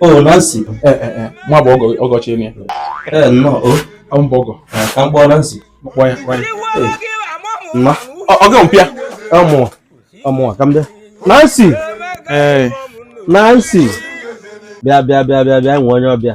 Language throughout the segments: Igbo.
o oh, Nancy eh, eh, eh. nwa bụ ọgọchi enyi ya nnọọ o oh. m bụ ọgọ ka m kpọọ Nancy kpọọ ya kpọọ ya mma ọgọ mpịa ọmụwa ọmụwa ka m bịa Nancy Nancy bịa bịa bịa bịa bịa nwee onye ọbịa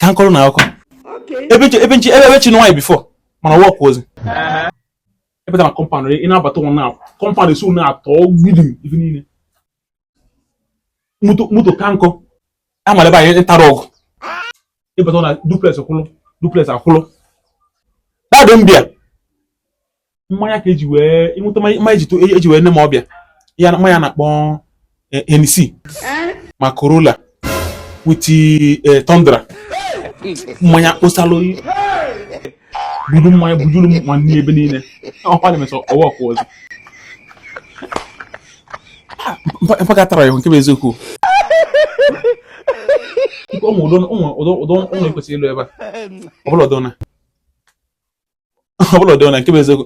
ka m kọọrọ na akụkọ ebe nche ebe nche ebe chi nwaanyị before mana wọk ozi ebe na compound ị na-abata ụwa na compound esi ụna atọ gbidi ife niile moto ka nkọ amara ebe anyị ntara ọgụ ịbata na duplex kwụlụ duplex akwụlụ dadị mbịa mmanya ka eji wee ịnweta mmanya eji to- eji wee nee m ọbịa ya na- mmanya a na-akpọ eh, Hennessy ma Corolla with eh, Tundra mmanya kposalụ budu mmanya bujuru m ma nne ebe niile ọkwa na emesọ ọwa ọkwa ọzọ Mpa- mpaka tara ya nke bụ eziokwu Nke ụmụ udo ụmụ udo udo ụmụ ekwesịrị ịlụ ebe a ọ bụla udo na ọ bụla ụdị na nke bụ eziokwu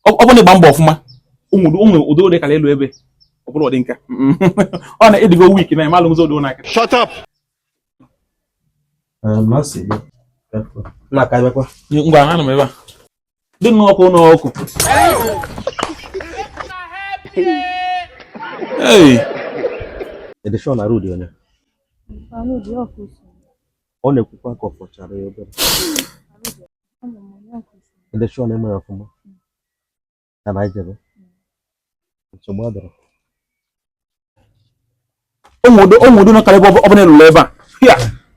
ọ bụrụ na ị gba mbọ ọfụma ụmụ udo udo kara elu ebe ọ bụrụ ụdị nka ọ na ị dịgo weak na ị malụ ụzọ ụdị ụnaka shut up ngwa anụ m ebe a dị nnọọ ọkụ ụlọ ọkụ Hey! Edishon na Rudi onye? ọ na-ekwukwa ka ọ fọchara ya obere ndị chụọ na emere ọfụma ka na anyị jebe nsogbu adịrọ ụmụ udo ụmụ udo nọ karịa ebe ọbụla ịlụla ebe a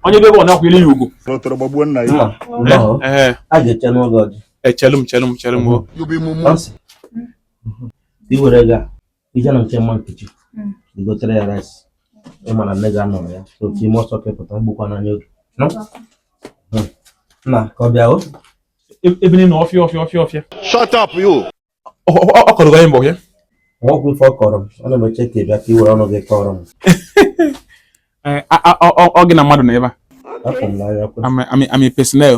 onye ebe ọ na-akwụ ile ya ugwu otoro gbagbuo nna ya a ga-eche n'ụlọ ọjị echelu m chelu m chelu m o i were ga ije na nke mama Nkechi Mm. i gotere ya rice ị ma na nne gị anọrọ ya so ka i mee ọsọ ka ị pụta egbukwana ya oge nọ Mm. nna ka ọ bịa o E- ebe niile ọfịa ọfịa ọfịa ọfịa Shut up, you! Ọ- ọ ọ- ọ kọrọ gị anyị mbọ ya nwoke ife ọ kọrọ m ana m eche ka ị bịa ka i were ọnụ gị kọrọ m Ee, a- a- ọ- ọ- ọ gị na mmadụ nọ ebe a afọ m n'anya kwe I'm a- I'm a- I'm a personnel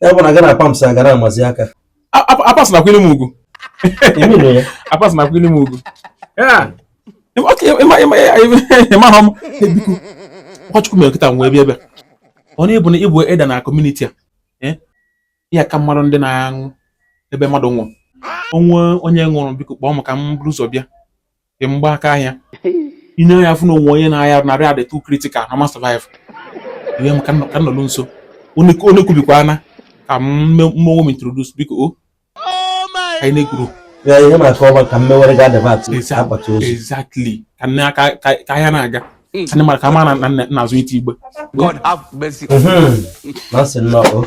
ya bụ na gị na pamps a gara amazi aka apas nakwa ilu m ugwu apas nakwa ilu m ugwu ị mahọ m biko ọ Chukwu mere kịta wee bịa bịa ọ na-ebu na ị bụ elder na community a eh? ya ka mmadụ ndị na-aṅụ ebe mmadụ nwụrụ o nwee onye nwụrụ biko kpọọ m ka m bụrụ ụzọ bịa dị mgba aka ahịa ị nee anya fụ na o nwe onye na-arịa arụ na ọrịa dị too critical na ọ ma survive ihe m ka nọ- ka m nọrọ nso onye onye kubikwana ka m me- m onwe m introduce biko o ka anyị na-ekwuru Ya ihe maka ọba ka mmewere ga debat Eza- akpati ozu. exactly ka nne aka ka ka ahịa na-aga ka ndị mara ka ma na na- na-azụ ite igbe God have mercy. Mhm. Na sị nnọọ.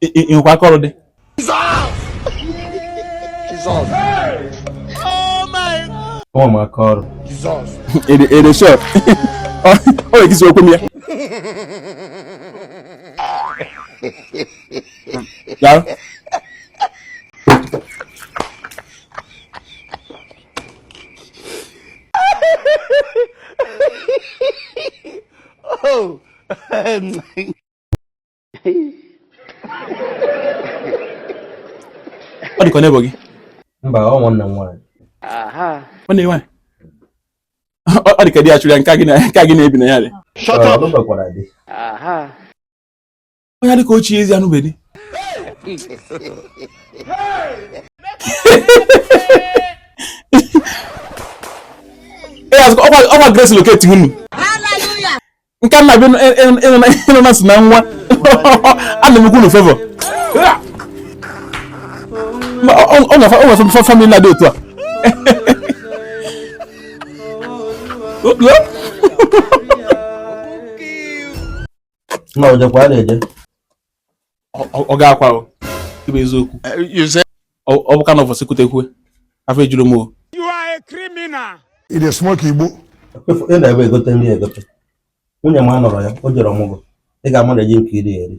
ị nwekwa aka ọrụ dị nwa m aka ọrụ ede shọp ọ na-ekisi okwu m ya Daalụ. oh ọ dịka ọ na-ebo gị mba ọ nwanne m nwaanyị ọ na-enwe ọ dịka di ya chụrụ ya nke a gị na-ebi na ya dị Shut up. onye dịka ochie ezi anụbedi ọ kwa grace locate unu nke nna bi ịnụ na si na nwa ana m ekwu unu favor ọ na famili na-adị otu a Look, look. na o jekwa na-eje ọ ga-akwa ibe eziokwu ọ bụ ka na ụbọchị kutekwe afọ ejuru m o ị na-esmoke igbo ị na-ebe egote nri egote nwunye m anọrọ ya o jere ọmụgwọ ị ga-ama na eji nke iri eri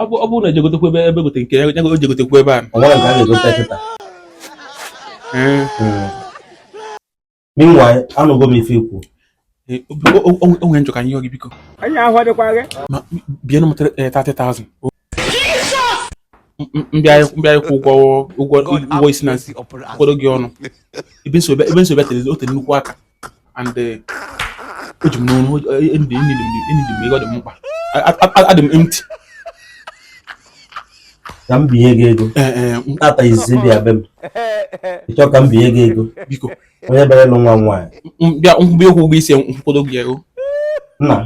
ọ bụrụ na e je gotekwu ebe ebe gote nke ya o je gotekwu ebe a ọ nwere nke a ga-egote kịta meanwhile anụgo m ife i kwu o nwe njọ ka anyị yọ gị biko anyị ahụ adịkwa gị ma binye m 30,000 m bịa ịkwụ ụgwọ ụgwọ ụgwọ isi na m kwụkọdo gị ọnụ ebe m si bịa tere o tere nnukwu aka and eh, o ji m n'ọnụ enidi m ego dị m mkpa adị m empty ka m binye gị ego eh, eh, m tata izizi ị bịa be m ị chọọ ka m binye gị ego biko onye bịara ịlụ nwa m nwaanyị m bịa ịkwụ ụgwọ isi m kwụkọdo gị ego nna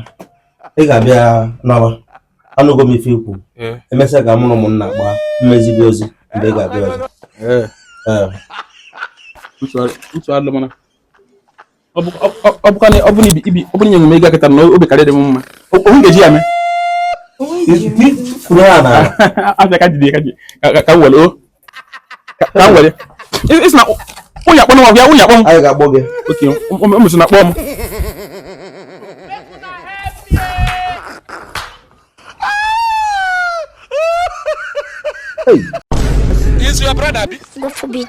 ị ga-abịa nawa anụgo m ife i kwu Eh. emesịa ka mụ na ụmụnna gbaa m ezi gị ozi mgbe ị ga-abịa ọzọ Eh, utu alụ mana ọ bụrụ nye m ego a kịta na obi ka-adịrị m mma onwe ga-eji ya mee abịa ka jide ka m were ka m were ị sị na onye akpọ nwa ya onye akpọ m okay o mesị na-akpọ m Is your brother? God forbid.